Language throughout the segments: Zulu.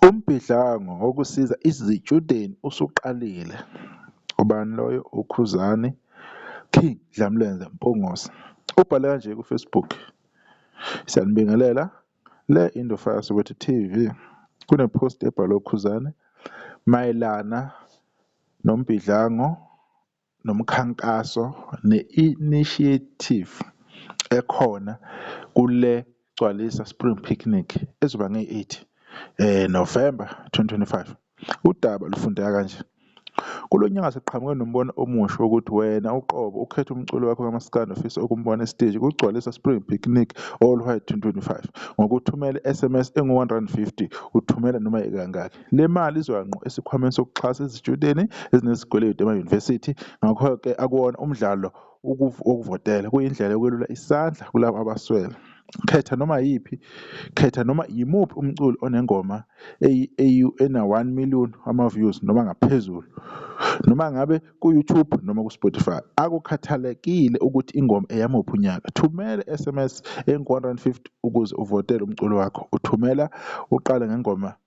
Umbhidlango wokusiza izitshudeni usuqalile. Ubani loyo? UKhuzani King Dlamlenze Mpungose. Ubhale kanje kuFacebook, Siyanibingelela. Le into Fire Soweto TV. Kune-post ebhalwe uKhuzani mayelana nombhidlango nomkhankaso ne-initiative ekhona kule Gcwalisa Spring Picnic ezoba ngeyi-8 Novemba 2025. Udaba lufundeka kanje, Kulo nyaka siqhamuke nombono omusha wokuthi wena uqobo ukhethe umculi wakho kamaskandi ofisa ukumbona esiteji kuGcwalisa Spring Picnic All White 2025 ngokuthumela i-SMS engu-R150, uthumela noma ikangaki. Le mali izoya ngqo esikhwameni sokuxhasa izitshudeni ezinezikweletu emayunivesithi, ngakho-ke akuwona umdlalo wokuvotela, kuyindlela yokwelula isandla kulabo abaswele. Khetha noma yiphi, khetha noma yimuphi umculi onengoma eyi-AU ena-1 million wama-views noma ngaphezulu, noma ngabe ku-YouTube noma ku-Spotify. Akukhathalekile ukuthi ingoma eyamuphi unyaka, thumela i-SMS engu-150 ukuze uvotele umculi wakho. Uthumela uqale ngengoma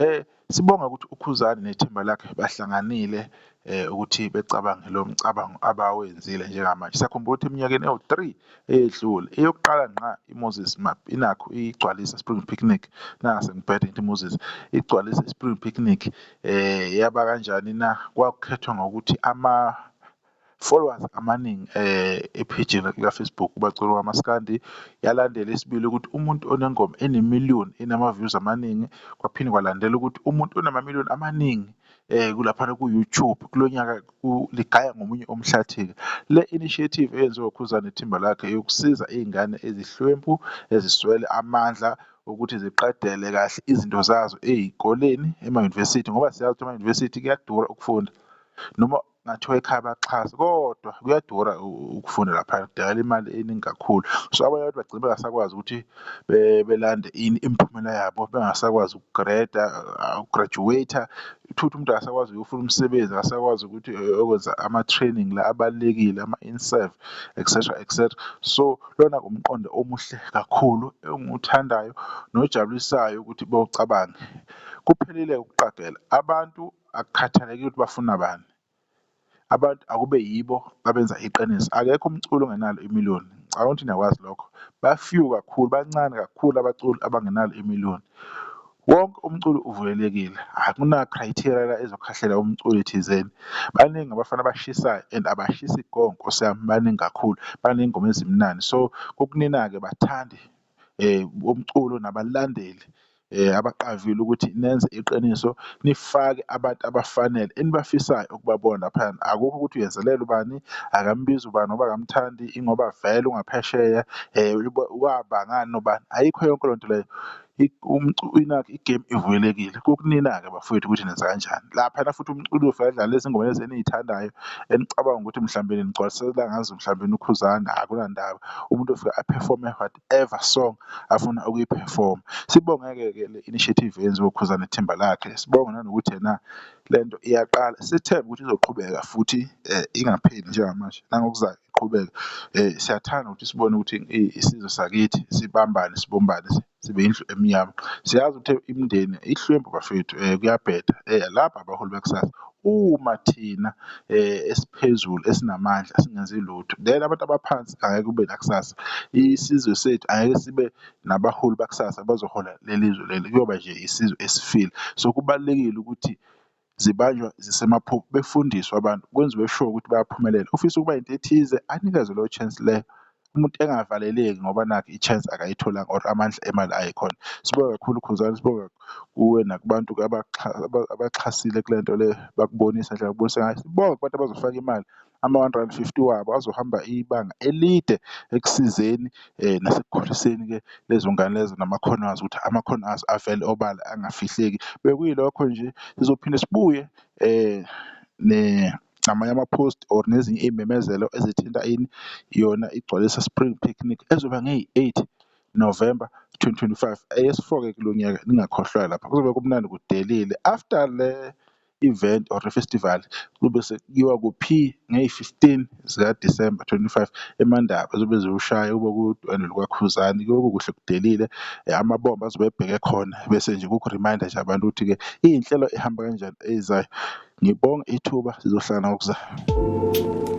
Eh sibonga ukuthi uKhuzani nethimba lakhe bahlanganile eh ukuthi becabange lo mcabango abawenzile njengamanje. Sakhumbula ukuthi eminyakeni ewu-3 eyedlule eyokuqala ngqa iMoses Map inakho igcwalisa Spring Picnic nangasengibhede ngithi Moses igcwalisa iSpring Picnic eh yaba kanjani na kwakukhethwa ngokuthi ama Followers amaningi eh epage la Facebook bacula kwamaskandi yalandela isibili ukuthi umuntu onengoma ene million enama views amaningi kwaphinde kwalandela ukuthi umuntu onama million amaningi eh kulapha ku YouTube kulonyaka ligaya ngomunye omhlathika le initiative eyenziwa uKhuzani ithimba lakhe yokusiza izingane ezihlwempu eziswele amandla ukuthi ziqedele kahle izinto zazo ezikoleni ema university ngoba siyazi ukuthi ama university kuyadura ukufunda noma ngathiwa ekhaya baxhase kodwa kuyadura ukufunda lapha kudala imali eningi kakhulu so abanye abantu bagcina bengasakwazi ukuthi belande ini imiphumela yabo bengasakwazi ukugreda uh, ukugraduate uthuthi umuntu akasakwazi ukuyofuna umsebenzi akasakwazi ukuthi eh, okwenza ama-training la abalulekile ama-inserve etc etc so lona kumqondo omuhle kakhulu engiwuthandayo nojabulisayo ukuthi bewucabange kuphelile ukuqagela abantu akukhathalekile ukuthi bafuna bani abantu akube yibo abenza iqiniso akekho umculo ongenalo imiliyoni ngicabanga ukuthi niyakwazi lokho bafew kakhulu bancane kakhulu abaculi abangenalo imiliyoni wonke umculo uvulelekile akuna-criteria la ezokhahlela umculi thizeni baningi abafana abashisayo and abashisi go nkosi yami baningi kakhulu baney'ngoma ezimnandi so kukunina-ke bathandi bomculo nabalandeli abaqavile ukuthi nenze iqiniso nifake abantu abafanele enibafisayo ukubabona laphayana. Akukho ukuthi uyenzelela ubani, akambizi ubani ngoba akamthandi ingoba vele ungaphesheya waba ngani nobani, ayikho yonke leyo nto leyo. Nakhu igemu ivulelekile kukunina-ke bafowethu ukuthi nenza kanjani. Laphayana futhi umculo ufike adlale izingoma lezi eniy'thandayo. enicabanga ukuthi mhlawumbe nigcwalisela ngazo mhlawumbe ukhuzane akunandaba umuntu ofika aperforme whatever song afuna ukuyiperforma sibonge-ke ke le initiative yenziwe ukhuzane ithimba lakhe sibonge nanokuthi yena le nto iyaqala sithembe ukuthi izoqhubeka futhi um ingapheli njengamanje nangokuzayo iqhubeke um siyathanda ukuthi sibone ukuthi isizwe sakithi sibambane sibumbane sibe indlu emnyama siyazi ukuthi imindeni ihlwempu bafethu um kuyabheda um laba abaholi bakusasa uma thina um esiphezulu esinamandla singenzi lutho then abantu abaphansi angeke kube nakusasa isizwe sethu angeke sibe nabaholi bakusasa bazohola leli zwe leli kuyoba nje isizwe esifile. So kubalulekile ukuthi zibanjwa zisemaphuphu befundiswa abantu kwenziwe sure ukuthi bayaphumelela ufisa ukuba into ethize anikezwe leyo chance leyo umuntu engavaleleki ngoba nakhe i-chance akayitholanga or amandla emali ayikhona sibonga kakhulu khuzani sibonga kuwe nakubantu abaxhasile kule nto le bakubonisa nje bakubonisa ngayo sibonga kubantu abazofaka imali Ama-150 wabo azohamba ibanga elide ekusizeni nasekukhuliseni ke lezo ngane lezo namakhono azo ukuthi amakhono azo avele obala angafihleki. Bekuyilokho nje sizophinde sibuye ne namanye ama-post or nezinye iy'memezelo ezithinta ini yona igcwalisa spring picnic ezoba ngeyi-eight November twenty twenty five eyesi-four-ke kulo nyaka ningakhohlwa lapha kuzobe kumnandi kudelile after le. event or festival kube sekuyiwa kuphi ngeyi-fifteen zikaDisemba twenty-five eMandaba zobe ziwushaya kube kuwudwendwe lukwaKhuzani kuyobe kukuhle kudelile amabombo azobe ebheke khona bese nje kuku-remind-a nje abantu ukuthi-ke iy'nhlelo ihamba kanjani ezayo. Ngibonge ithuba sizohlala ngokuzayo.